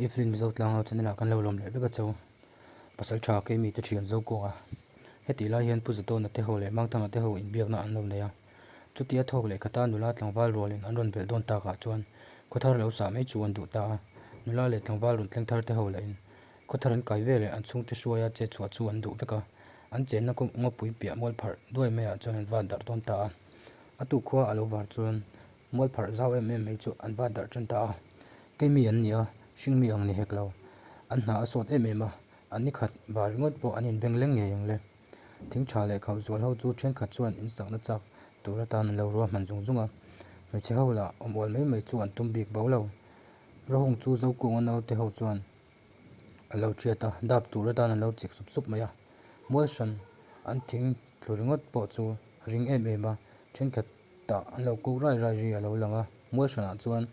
I fir mizo tlang lo chunila kan lo lawm leh vek a cho. Pasal tha kei mite thian zo kuah a. Hetih lai hian Pu Zatawna te ho leh Mangthanga te ho inbiakna an lo nei a. Chutia thawk leh khata nula tlangval rualin an rawn belh dawn takah chuan khawthar lo sah mai chu an duh ta a. Nula leh tlangval rawn thleng thar te ho lahin khawthar an kai veleh an chhungte hruaia che chhuah chu an duh vek a. An chenna ngawpui piah mual pharh duai maiah chuan an vat darh dawn ta a. A tukhua a lo var chuan. Mualpharh zau em em hi chu an va darh ṭan ta a, kei mi an ni a, hring mi ang ni hek lo. An hna a sawt em em a, a ni khat va ringawt pawh an inbeng leng ngei ang le. Thing ṭha leh khauh zual ho chu ṭhenkhat chuan insakna chak tur atan an lo ruahman zung zung a, hmeichhe ho lah awm awl mai mai chu an tum bik bo lo. Rahung chu zokuanga naute ho chuan a lo ṭhiat a, dap tur atan an lo chik sup sup mai a. Mualhran an thing thlu ringawt pawh chu a ring em em a, ṭhenkhat tah an lo kuk rai rai ri a lo lang a, Muaihranah chuan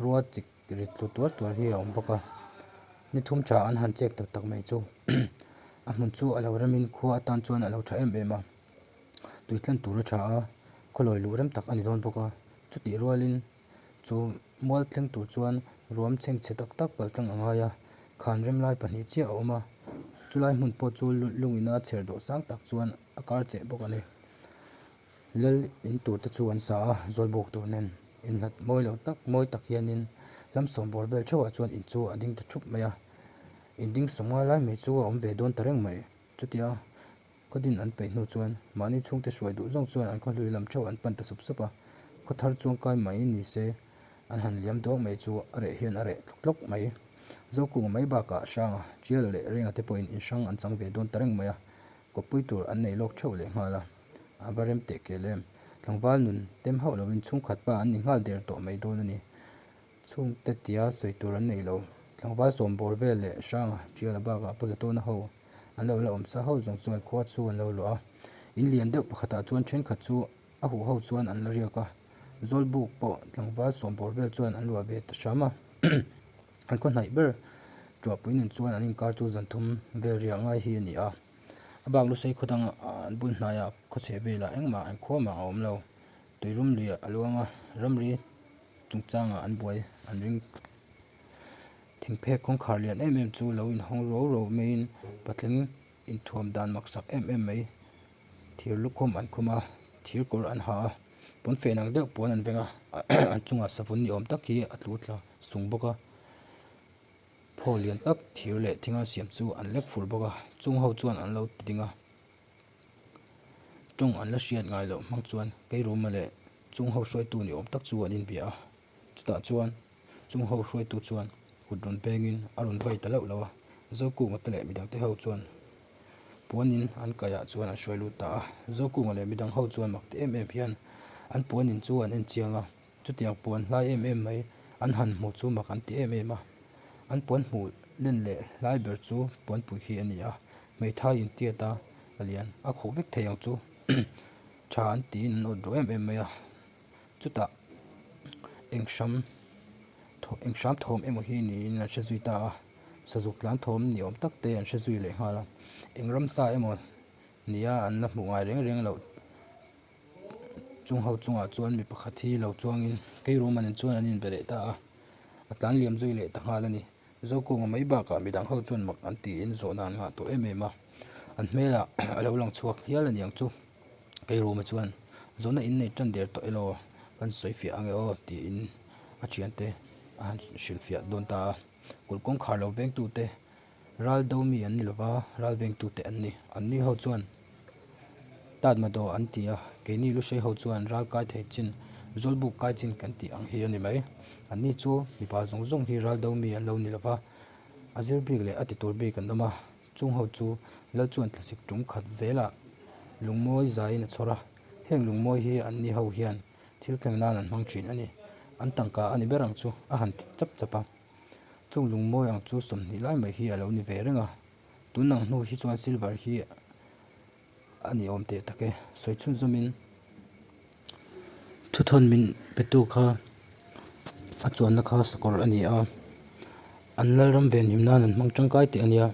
rua chik rit tlu tuar tuar hi a awm bawk a, ni thum tha an han chek tak tak mai chu a hmun chu a lo rem in khua atan chuan a lo tha em em a, tui tlan tur a tha a, khawlawi luh rem tak a ni dawn bawk a, chutih rual in chu mual thleng tur chuan ruam chheng che tak tak pal tlang a ngai a, khan rem lai pahnih chiah a awm a, chu lai hmun pawh chu lung ina chher duh sang tak chuan a kar che bawk a ni. Lal in tur te chu an sa a, zual buk tur nen in nghat mawi lo tak mawi tak hian in lam sawm bawr vel theuhah chuan in chu a ding ta thup mai a, in ding sawm nga lai mai chu a awm ve dawn ta reng mai. Chutia khaw din an peih hnu chuan mahni chhung te hruai duh zawk chuan an khaw hlui lam theuh an pan ta sup sup a, khaw thar chuang kai mai ni se an han liam duak mai chu a reh hian a reh tlawk tlawk mai. Zokung mai bakah hranga tial leh renga te pawhin in hrang an chang ve dawn ta reng mai a, kawppui tur an nei lawk theuh lehnghal a. a va rem teh kêl em! Tlangval nun tem hauh loin chhungkhat pa an ni nghal der tawh mai dawn a ni. Chhung ta tia sawi tur an nei lo. Tlangval sawm bawr vel leh hranga ṭial a bakah pu Zatawna ho an lo la awm sa hauh zawng chuan khua chu an lo luah a. In lian deuh pakhatah chuan ṭhenkhat chu a huh ho chuan an la riak a. Zawl buk pawh tlangval sawm bawr vel chuan an luah ve ta hram a. An khawhnaih ber ṭuahpui nen chuan an inkar chu zanthum vel riah ngai hi a ni a. A bak lusei khawdang an bul hnaia khawchheh velah engmah engkhawmah a awm lo. Tuirum luiah a luang a, ramri chungchangah an buai an ring phut. Thingphek kawngkhar lian em em chu lo inhawng ro ro maiin patling inthuam dan maksak em em mai. Thir lukhum an khum a, thir kawr an ha a, pawnfen ang deuh puan an veng a, an chungah savun ni awm tak hi a tlu tla sung bawk a. Pho lian tak thir leh thinga siam chu an lek fur bawk a, chung ho chuan an lo ti ding a, tawng an la hriat ngai loh hmang chuan keiruma leh chung ho hruaitu ni awm tak chu an inbia a, chutah chuan chung ho hruaitu chuan kut rawn pengin a rawn vai ta loh lo a, Zokung te leh midang te ho chuan puanin an kaiah chuan an hruai lut ta a, Zokung leh midang ho chuan mak ti em em hian an puanin chu an en chiang a. Chutiang puan hlai em em mai an han hmuh chu mak an ti em em a. An puan hmuh len leh hlai ber chu puanpui khi a ni a, hmeithai in tiat a a lian a khawh vek thei ang chu tha an tiin an awt rawh em em mai a. Chutah eng hram thaw eng hram thawm emaw hi niin an hre zui ta a, sazuk tlan thawm ni awm tak te an hre zui leh nghal a, eng ramsa emaw nia an la hmuh ngai reng reng loh. Chung ho chungah chuan mi pakhat hi lo chuangin kei rum anen chuan an inbe leh ta a, a tlan liam zui leh ta nghal a ni. Zokawma mai bakah midang ho chuan mak an tiin zawh nan nghah tawh em em a, an hmelah a lo lang chhuak hial aniang chu. Kei ruma chuan zawhna in nei tan der tawh elaw kan sawi fiah ange aw tiin a thiante a han hrilhfiah dawn ta a. Kul kawngkhar lo vengtute. Ral do mi an ni lo va, ral veng tu te an ni. An ni ho chuan tat ma daw an ti a, keini lu hrei ho chuan ral kai thei chin, zawl buk kai chin kan tih ang hi a ni mai. An ni chu mipa zawng zawng hi ral do mi an lo ni lo va, a zir bik leh a ti tur bik an awm a, chung ho chu lal chuan tlasik tum khat zelah lungmawi zai in a chhawr a, heng lungmawi hi an ni ho hian thil thleng nan an hmang thin a ni, an tangka a ni ber ang chu a han ti chap chap a. Chung lungmawi ang chu sawmhnih lai mai hi a lo ni ve reng a, tun ang hnu hi chuan silver hi a ni awm teh tak e, sawi chhun zawmin thu thawn min pe tu kha a chuanna kha sakawr a ni a, an lalram ve nim nan an hmang tangkai teh a nia,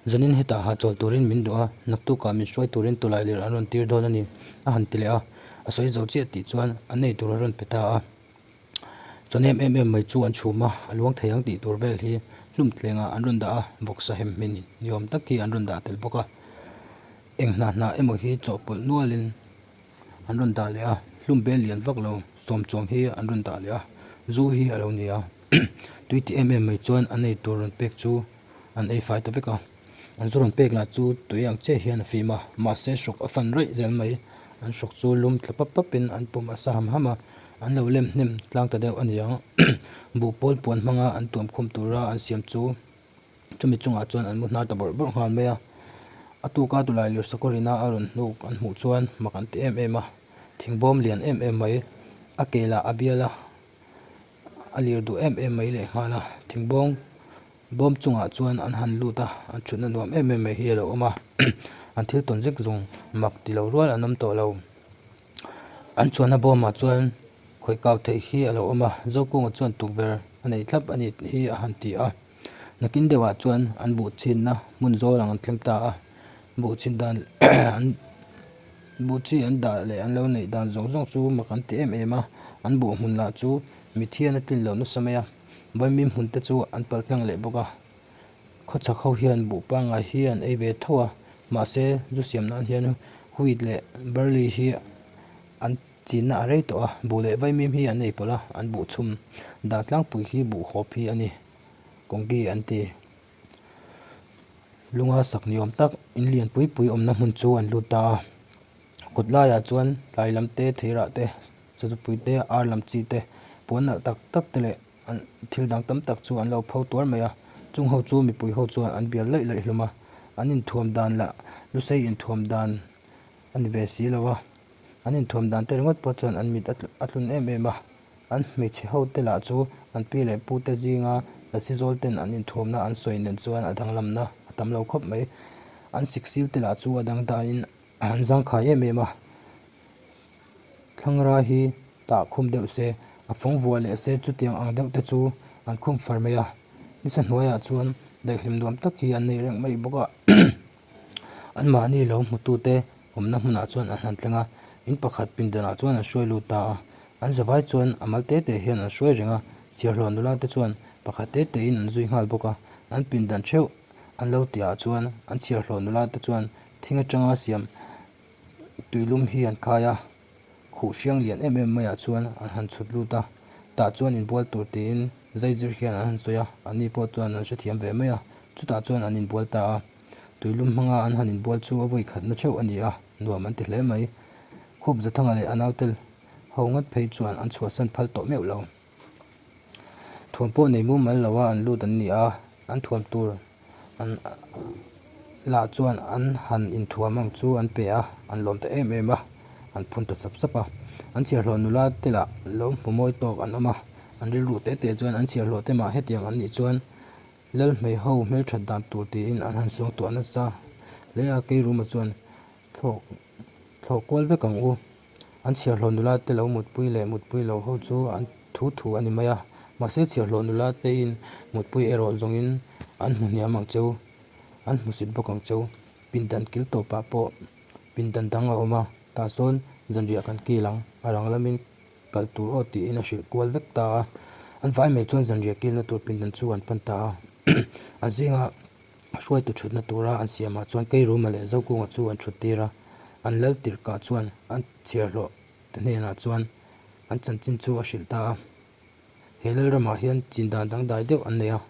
zanin hetah hahchawlh turin min duh a, naktukah min hruai turin tawlai lir an rawn tir dawn a ni, a han ti leh a, a sawi zo chiah tih chuan a nei tur a rawn pe ta a. Chuan em em em mai chu an chhum a, a luang thei ang tih tur vel hi hlum tlengah an rawn dah a, vawk sa hem hmin ni awm tak hi an rawn dah tel bawk a, eng hnah hnah emaw hi chawhpawlh nualin an rawn dah leh a, hlum bel lian vak lo sawm chuang hi an rawn dah leh a, zu hi a lo ni a, tui tih em em mai chuan a nei tur rawn pek chu an ei fai ta vek a. An chu rawn pek lah chu tui ang chiah hian a fim a, mahse shock a fan raih zel mai. An shock chu lum tla pap pap in an pawm a sa ham ham a, an lo lem hnem tlang ta deuh a ni ang. Buh pawl puan hmanga an tuam khum tura an siam chu chumi chungah chuan an mu hnar ta bawrh bawrh nghal mai a. A tuka Tulai Lirsakorina a rawn hnuk an hmuh chuan mak an ti em em a, thingbawm lian em em mai. A kelah a bial a, a lir duh em em mai lehnghal a, thingbawm-- Bawm chungah chuan an han lut a, an thutna nuam em em mai hi a lo awm a, an thil tawn zek zung mak ti lo rual an awm tawh lo. An chhuahna bawmah chuan khawih kau theih hi a lo awm a, Zokung-a chuan tukverh a nei thlap a ni tih hi a han ti a, nakin deuhah chuan an buh chhinna hmun zawl ang an tlem ta a, buh chhin dan an buh chi an dah leh an lo neih dan zawk zawk chu mak an ti em em a, an buh hmun lah chu mithiana tlin loh nasa mai a. Bawimim hmunte chu an palh tlang leh bawk a, khawchhak ho hian buh pangai hi an ei ve tho a, mahse zu siam nan hian wheat leh barley hi an chinna a rei tawh a, buh leh vaimim hi an nei pawlh a, an buh chhum dan tlangpui hi buh hawp hi a ni, kawngge an ti. Lunga sak ni awm tak in lian pui pui awmna hmun chu an lut ta a, kut laiah chuan tlai lam te, thei rah te. Chatupuite a ar lam chi te puan nalh tak tak te leh an thil dang tam tak chu an lo pho tuar mai a chung ho chu mipui ho chuan an bial laih laih hlum a an in thuam dan lah lu sei in thuam dan a ni ve si lo a an in thuam dan te ringawt pawh chuan an mit a tlun em em a an hmeichhe ho te lah chu an pi leh pu te zing a lasi zawl ten an in thuam na an sawi nen chuan a danglam na a tam lo khawp mai an siksil te lah chu a dangda in an zangkhai em em a. Thlangra hi tah khum deuh se, a fawng vuah leh se chutiang ang deuh te chu an khum far mai a. Nisa hnuaiah chuan daihlim nuam tak hi an nei reng mai bawk a. Anmahni lo hmutute awmna hmunah chuan an han thleng a. In pakhat pindanah chuan an hruai lut ta a. An zavai chuan a mal te te hian an hruai reng a. Chhiarhlawh nula te chuan pakhat te te in an zui nghal bawk a. An pindan theuh an lo ti ah chuan an chhiarhlawh nula te chuan thing atanga siam. Tuilum hi an khai a, khuh hriang lian em em maiah chuan an han chhut lut a, tah chuan inbual tur tiin zai zir hian an han sawi a, ani pawh chuan an hrethiam ve mai a, chutah chuan an inbual ta a, Tuilum hmanga an han inbual chu a vawi khatna theuh a ni a, nuam an ti hle mai. Khawpza Thanga leh a nautel ho ngat phei chuan an chhuahsan phal tawh meuh lo. Thuam pawh nei mumal lo a an lut an ni a, an thuam tur an lah chuan an han inthuam ang chu an pe a, an lawm ta em em a, an phun ta sap sap a. An chhiarhlawh nula te lah lo hmu mawi tawk an awm a, an rilru teh teh chuan an chhiarhlawh te mah hetiang an nih chuan Lalhmei ho hmelthat dan tur tiin an han suang tawh nasa. Lei a kei ruma chuan thlawh kual vek ang u. an chhiarhlawh nula te lo mutpui leh mutpui loh ho chu an thu thu a ni mai a, mahse chhiarhlawh nula tein mutpui erawh zawngin an hmu hniam ang cheu, an hmu sit bawk ang cheu. Pindan kil tawpah pawh pindan dang a awm a, tah sawn zanriah kan kil ang, a rang lamin kal tur aw tiin a hrilh kual vek ta a, an vai mai chuan zanriah kilna tur pindan chu an pan ta a, a zing a. hruaitu thutna tura an siamah chuan keiruma leh zokunga chu an thut tir a, an lal tirh kah chuan a chhiarhlawh te hnenah chuan an chanchin chu a hrilh ta a, he lal ramah hian chin dan dangdai deuh an nei a,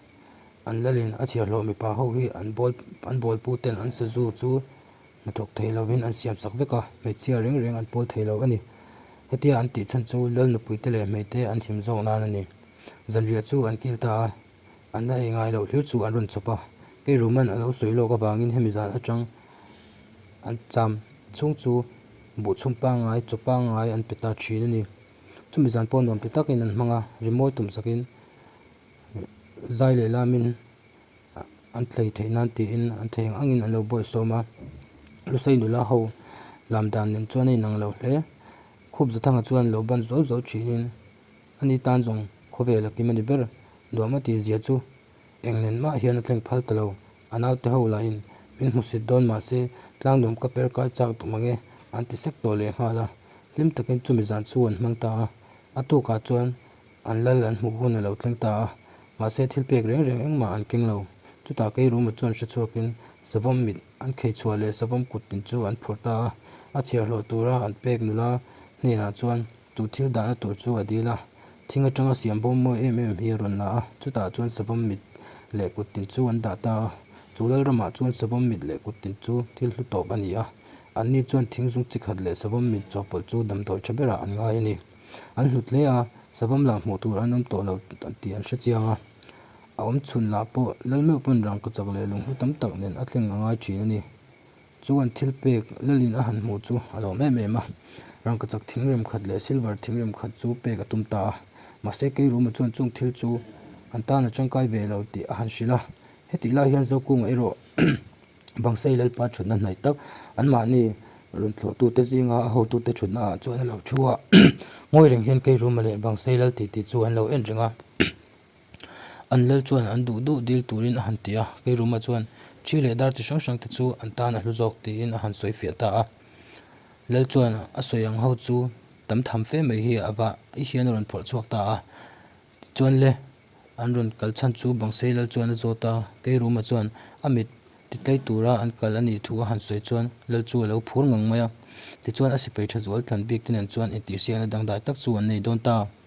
an lalin a chhiarhlawh mipa ho hi an bawl an bawlpute ten an sazu chu hnathawk thei lovin an siam sak vek a, hmeichhia reng reng an pawl thei lo a ni, hetia an tih chhan chu lal nupuite leh hmeite an him zawk nan a ni, zanriah chu an kil ta a. An la ei ngai loh hlir chu an rawn chawp a, kei ruman a lo sawi lawk avangin hemi zan atang an cham chhung chu buh chhung pangai chaw pangai an pe ta thin a ni. Chumi zan pawh nuam pi takin an hmang a, rimawi tum sakin zai leh lamin an thlei theih nan tiin an thei ang angin an lo buai sawm a, Lusei nula ho lam dan nen chuan a inang lo hle, khup za thanga chuan an lo ban zo zo thin in. Ani tan zawng khawvel a kim a ni ber. Duahma tih zia chu engnen mah hian a thleng phal ta lo. A naute ho lahin min hmu sit dawn mah se, tlangdawm ka per kai chak duh mang e an ti sek tawh lehnghal a. Hlim takin chumi zan chhu an hmang ta a. A tukah chuan an lal an hmuh hun a lo thleng ta a. Mahse thil pek reng reng engmah an keng lo. Chutah kei ruma chuan hre chhuakin savawm mit an khei chhuah leh savawm kut tin chu an phur ta a. A chhiarhlawh tura an pek nula hnenah chuan Chu thil dahna tur chu a dil a, thing atanga siam bawm mawi em em hi a rawn la a, chutah chuan savawm mit leh kuttin chu an dah ta a. Chu Lalramah chuan savawm mit leh kuttin chu thil hlu tawp a ni a, anni chuan thing zung chi khat leh savawm mit chawhpawlh chu damdawi tha berah an ngai a ni. An hlut hle a, savawm lah hmuh tur an awm tawh lo tih an hre chiang a, a awmchhun lah pawh Lalmeuh pawn rangkachak leh lunghlu tam tak nen a thleng a ngai thin a ni. Chuan thil pek Lalin a han hmuh chu a lawm em em a, rangkachak thingrem khat leh silver thingrem khat chu pek a tum ta a, mahse kei ruma chuan chung thil chu an tan a tangkai ve lo tih a han hrilh a, hetih lai hian Zokunga erawh Bangsei Lalpa thutna hnai tak anmahni rawn thlawhtute zinga a hotute thutnaah chuan a lo thu a, ngawi reng hian kei ruma leh Bangsei Lal titi chu an lo en reng a. An lal chuan an duh duh dil turin a han ti a, kei ruma chuan thi leh dar chi hrang hrang te chu an tan a hlu zawk tiin a han sawi fiah ta a. Lal chuan a sawi ang ho chu tam tham fe mai hi a va i hian a rawn phawrh chhuak ta a. Tichuan le an rawn kal chhan chu Bangsei lal chuan a zawt a, kei ruma chuan a mit ti tlai tura an kal a nih thu a han sawi chuan lal chu a lo phur ngang mai a. Tichuan a sipai tha zual tlan bik te nen chuan intihsiakna dangdai tak chu an nei dawn ta a.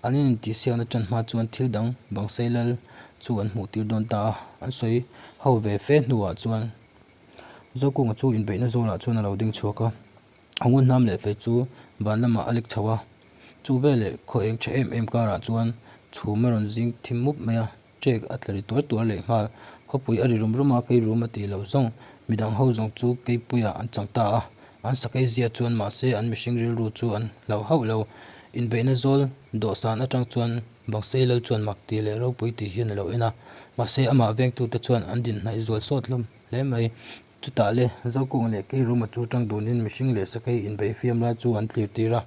An in intihsiakna tan hma chuan thil dang bang sei lal chu an hmuh tir dawn ta a, an sawi ho ve fe hnuah chuan Zokung chu inbeihna zawlah chuan a lo ding chhuak a, a ngun hnam leh fei chu van lamah a lik chho a, chu veleh khaw eng tha em em karah chuan chhum a rawn zing thim mup mai a. check a tla ri tuar tuar leh nghal khawpui a ri rum rum a keirum a ti loh zawng mi dang ho zawng chu keipuia an chang ta a an sakei zia chuan mahse an mihring rilru chu an hlauh hauh lo inbeihna zawl dawhsan atang chuan bangsei lal chuan mak ti leh ropui ti hian a lo en a mahse amah veng tute chuan an dinhnaih zual sawt hlawm hle mai chutah le zaukawng leh keiruma chu tang dunin mihring leh sakei inbeih fiam lai chu an thlir tir a.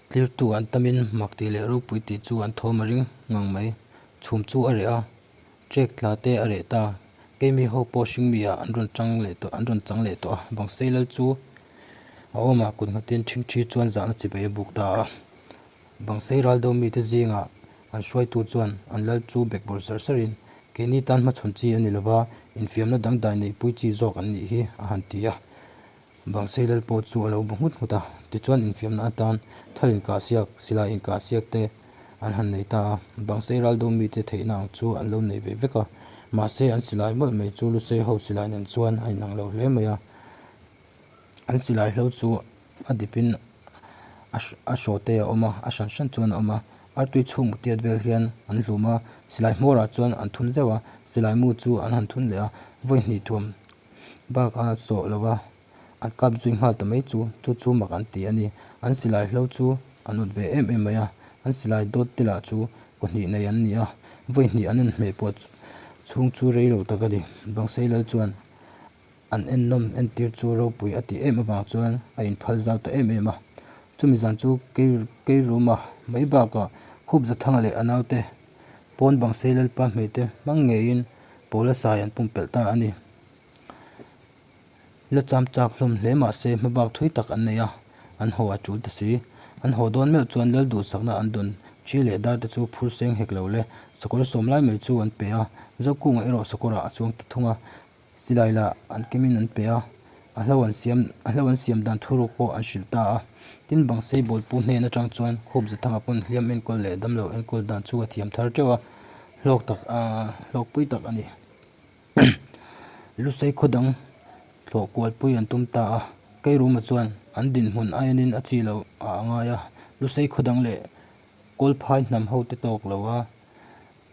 Tlirtu an tam in mak tih leh ropui tih chu an thawm a ring ngang mai. Chhum chu a reh a, Check tla te a reh ta, keimi ho pawh hring mi ah an rawn chang leh tawh an rawn chang leh tawh a, bang sei lal chu a awm a, kut nghatin thing thi chuan zahna chi beih a buk ta a, bang sei ral deuh mi te zing ah an hruai tu chuan an lal chu bek bawr ser ser in keini tan hmachhawn chi a ni lo va, infiamna dangdai neih pui chi zawk an nih hi a han ti a. Bang sei lal pawh chu a lo bu nghut nghut a, tichuan infiamna atan thar inkah siak, silai inkah siak te an han nei ta a, bang sei ral deuh mite theihna ang chu an lo nei ve vek a, mahse an silai mawlh mai chu Lusei ho silai nen chuan a inang lo hle mai a, an silai hlo chu a dipin a hraw te a awm a, a hran hran chuan a awm a, artui chhuk mutiat vel hian an hlum a, silai hmawrah chuan an thun zeuh a, silai mu chu an han thun leh a, vawi hnih thuam. bak a sawh lo va an kap zui nghal ta mai chu chu chu mak an ti a ni an silai hlo chu an awt ve em em mai a an silai dawt te lah chu pahnih nei an ni a vawihnih an en hmeh pawh chhung chu rei lo tak a ni bangsei lal chuan an ennawm entir chu ropui a tih em avang chuan a in phal zau ta em em a chumi zan chu kei keiruma mai bakah khup zathanga leh a naute-- Pawn bang sei lalpa hmeh te hmang ngeiin Paula sai an pumpelh ta a ni. La cham chak hlawm hle mah se hmabak thui tak an nei a, an haw a tul ta si. An haw dawn meuh chuan lal duhsakna an dun thi leh dar te chu phur seng hek lo le sakawr sawm lai mai chu an pe a. Zokung ah erawh sakawrah a chuang ta thung a. Silai lah an kemin an pe a, a hlo an siam a hlo an siam dan thu ruk pawh an hrilh ta a. Tin, bang sei bawlhpui hnen atang chuan khup za thanga pawn hliam enkawl leh damlo enkawl dan chu a thiam thar teuh a, hlawk tak aah hlawkpui tak a ni. Lusei khaw dang hlawh kualpui an tum ta a, Keiruma chuan an dinhmun a enin a chi loh ah a ngai a, lusei khaw dang leh kawlphai hnam ho te tawk lo a,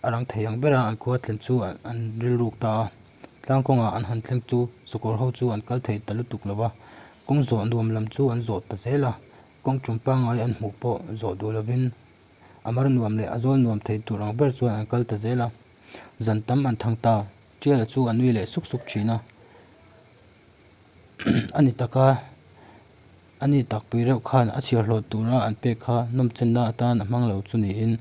a lang thei ang ber a an khua thlen chu an rilruk ta a tlang kawnga an han thleng chu chawkawr ho chu an kal thei ta lutuk lo va kawng zawh nuam lam chu an zawh ta zel a kawng tum pangai an hmuh pawh zawh duh lovin a mar nuam leh a zawl nuam thei tur ang ber chu an kal ta zel a zan tam an thang ta tial a chu an nui leh suk suk thin a a ni taka. A ni takpui reuh khan a chhiar hlawt tura an pek kha nawmchenna atan a hmang lo chu niin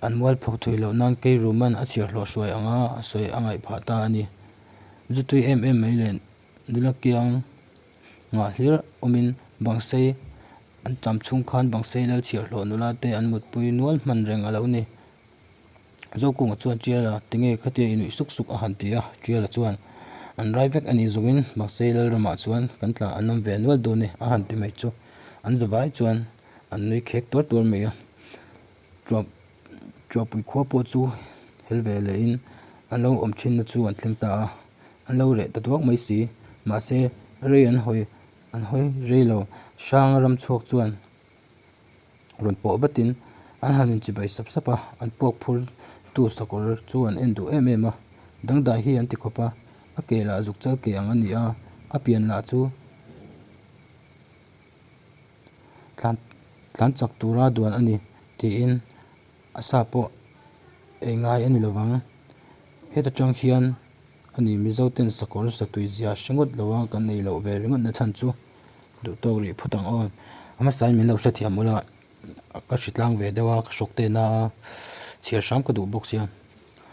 an mualpho thui loh nan keiruman a chhiar hlawh hruai anga a sawi a ngaih phah ta a ni. Zutui em em mai leh nula kiang ngah hlir awmin bangsei an cham chhung khan bangsei lal chhiar hlawh nula te an mutpui nual hman reng a lo ni Zokunga chuan Tiala tinge kha tia i nuih suk suk a han ti a, Tiala chuan an rai vek a nih zungin mahse Lalramah chuan kan tla an awm ve a nual dawn e a han ti mai chu. An za vai chuan an nui khek tuar tuar mai a, Tuahpui khua pawh chu hel ve leh in an lo awm thin na chu an thleng ta a, an lo reh ta duak mai si, mahse rei an hawi rei lo, Hranga ram chhuak chuan rawn pawh vatin an han in chibai sap sap a, an puak phur tu sakawr chu an en duh em em a, dangdai hi an ti khawp a, a ke lah zuk chal ke ang a ni a, a pian lah chu tlan tlan chak tura duan a ni, tiin. a sa pawh ei ngai a ni lo vang heta tang hian a ni mizo ten sakawr satui zia hre ngawt lo a kan nei loh ve ringawt na chhan chu duh tawk rih phawt ang aw a hmasa in min lo hrethiam ula ka hritlang ve deuh a ka shock te na a chhiar hrang ka duh bawk sia.